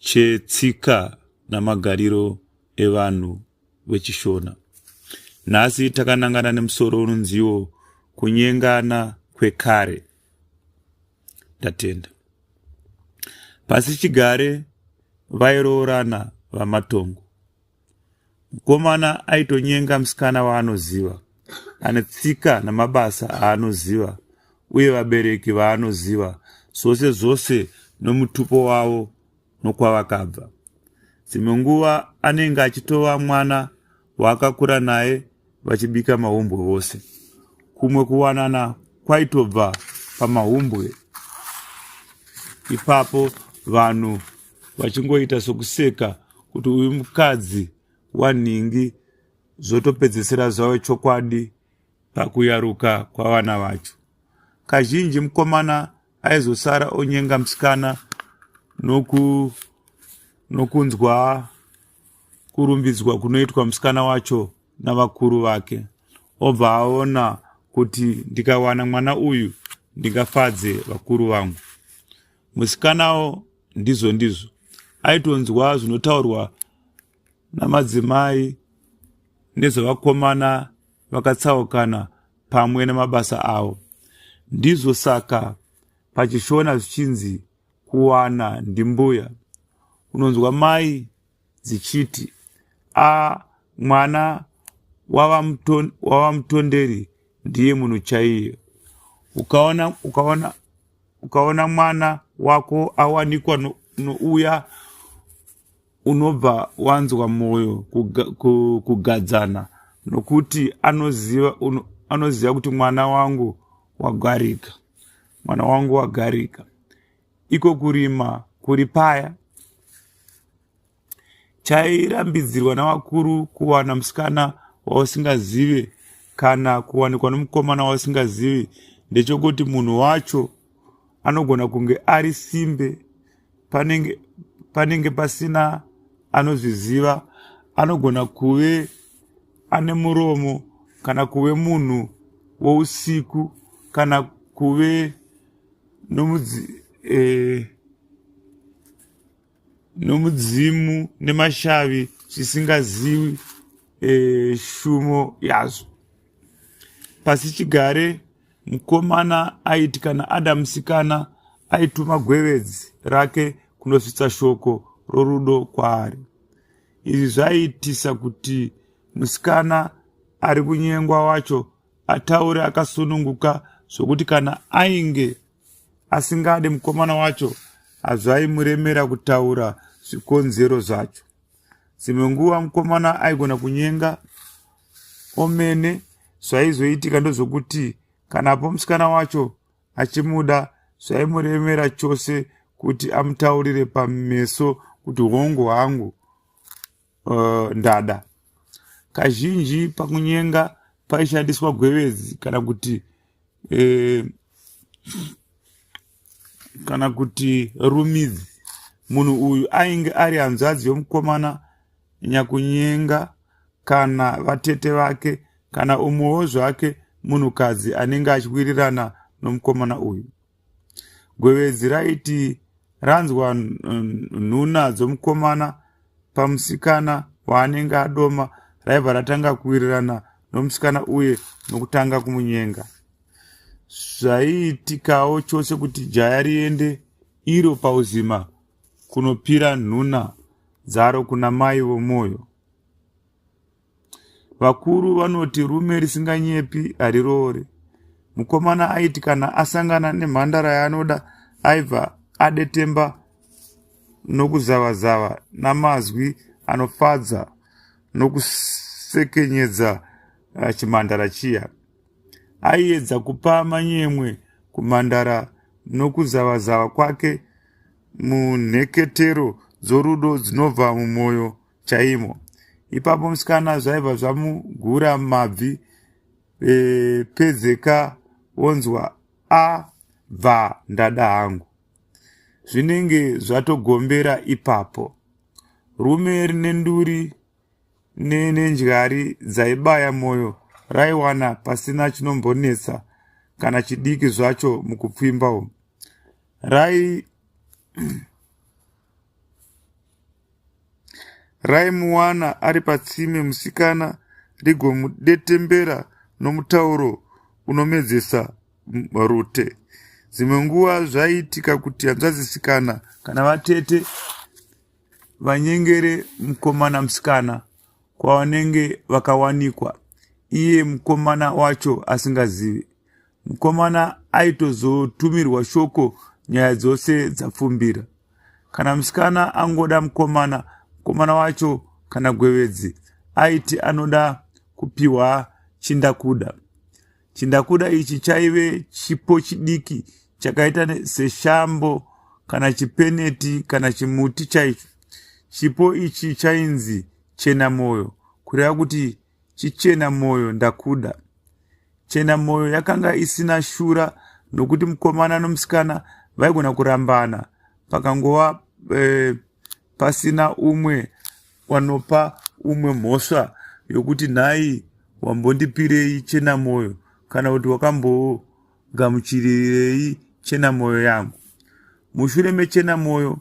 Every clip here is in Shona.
chetsika namagariro evanhu vechishona nhasi takanangana nemusoro unonziwo kunyengana kwekare ndatenda pasi chigare vairoorana vamatongo Mukomana aitonyenga musikana waanoziva, ane tsika namabasa aanoziva uye vabereki vaanoziva zvose zvose nomutupo wavo nokwavakabva. Dzimwe nguva anenge achitova mwana waakakura naye vachibika mahumbwe vose. Kumwe kuwanana kwaitobva pamahumbwe ipapo vanhu vachingoita sokuseka kuti uyu mukadzi wanhingi zvotopedzisira zvave chokwadi pakuyaruka kwavana vacho kazhinji mukomana aizosara onyenga musikana noku nokunzwa kurumbidzwa kunoitwa musikana wacho navakuru vake obva aona kuti ndikawana mwana uyu ndingafadze vakuru vangu musikanawo ndizvo ndizvo aitonzwa zvinotaurwa namadzimai nezvavakomana vakatsaukana pamwe nemabasa avo ndizvo saka pachishona zvichinzi kuwana ndimbuya unonzwa mai dzichiti, Ah, mwana wavamutonderi ndiye munhu chaiye. Ukaona, ukaona, ukaona mwana wako awanikwa no, nouya unobva wanzwa mwoyo kuga, ku, kugadzana nokuti anoziva, un, anoziva kuti mwana wangu wagarika mwana wangu wagarika iko kurima kuri paya chairambidzirwa navakuru kuwana musikana wausingazive kana kuwanikwa nomukomana wausingazivi ndechokuti munhu wacho anogona kunge ari simbe panenge, panenge pasina anozviziva anogona kuve ane muromo kana kuve munhu wousiku kana kuve nomudzi eh, nomudzimu nemashavi zvisingaziwi eh, shumo yazvo pasi chigare mukomana aiti kana ada musikana aituma gwevedzi rake kunosvitsa shoko rorudo kwaari izvi zvaiitisa kuti musikana ari kunyengwa wacho ataure akasununguka zvokuti kana ainge asingade mukomana wacho hazvaimuremera kutaura zvikonzero zvacho dzimwe nguva mukomana aigona kunyenga omene zvaizoitika ndozvokuti kana po musikana wacho achimuda zvaimuremera chose kuti amutaurire pameso kuti hongu hangu uh, ndada kazhinji pakunyenga paishandiswa gwevedzi kana kuti eh, kana kuti rumidzi munhu uyu ainge ari hanzvadzi yomukomana nyakunyenga kana vatete vake kana umwewo zvake munhukadzi anenge achiwirirana nomukomana uyu Gwevedzi raiti ranzwa nhuna dzomukomana pamusikana waanenge adoma raibva ratanga kuwirirana nomusikana uye nokutanga kumunyenga zvaiitikawo chose kuti jaya riende iro pauzima kunopira nhuna dzaro kuna mai vomwoyo Vakuru vanoti rume risinganyepi hariroore. Mukomana aiti kana asangana nemhandara yaanoda aibva adetemba nokuzavazava namazwi anofadza nokusekenyedza ah, chimhandara chiya. Aiedza kupa manyemwe kumhandara nokuzavazava kwake munheketero dzorudo dzinobva mumwoyo chaimo ipapo musikana zvaibva zvamugura mabvi e, pedzeka wonzwa a bva ndada hangu zvinenge zvatogombera ipapo rume rine nduri nenendyari dzaibaya mwoyo raiwana pasina chinombonetsa kana chidiki zvacho mukupfimba umu rai raimuwana ari patsime musikana rigomudetembera nomutauro unomedzesa rute dzimwe nguva zvaiitika kuti hanzvazisikana kana vatete vanyengere mukomana musikana kwavanenge vakawanikwa iye mukomana wacho asingazivi mukomana aitozotumirwa shoko nyaya dzose dzapfumbira kana musikana angoda mukomana mukomana wacho kana gwevedzi aiti anoda kupiwa chindakuda chindakuda ichi chaive chipo chidiki chakaita seshambo kana chipeneti kana chimuti chaicho chipo ichi chainzi chena mwoyo kureva kuti Chichena moyo ndakuda. Chena moyo yakanga isina shura nokuti mukomana nomusikana vaigona kurambana pakangova e, pasina umwe wanopa umwe mhosva yokuti nhai wambondipirei chena moyo kana kuti wakambogamuchirirei chena moyo yangu mushure mechena moyo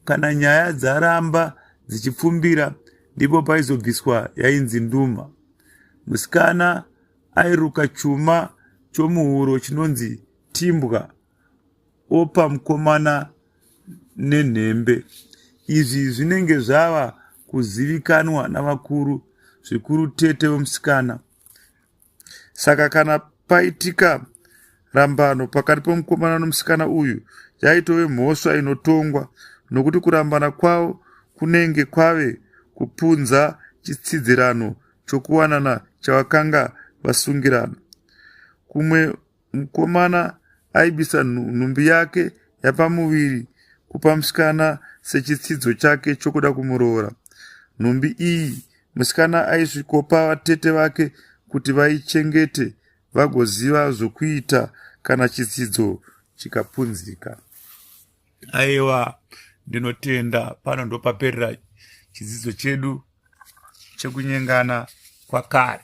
Kana nyaya dzaramba dzichipfumbira ndipo paizobviswa yainzi nduma. Musikana airuka chuma chomuhuro chinonzi timbwa opa mukomana nenhembe. Izvi zvinenge zvava kuzivikanwa navakuru zvikuru tete wemusikana. Saka kana paitika rambano pakati pomukomana nomusikana uyu yaitove mhosva inotongwa nokuti kurambana kwavo kunenge kwave kupunza chitsidzirano chokuwanana chavakanga vasungirana kumwe Mukomana aibisa nhumbi yake yapamuviri kupa musikana sechitsidzo chake chokuda kumuroora. Nhumbi iyi musikana aisvikopa vatete vake kuti vaichengete vagoziva zvokuita kana chitsidzo chikapunzika. Aiwa, ndinotenda pano ndopaperera chidzidzo chedu chekunyengana kwakare.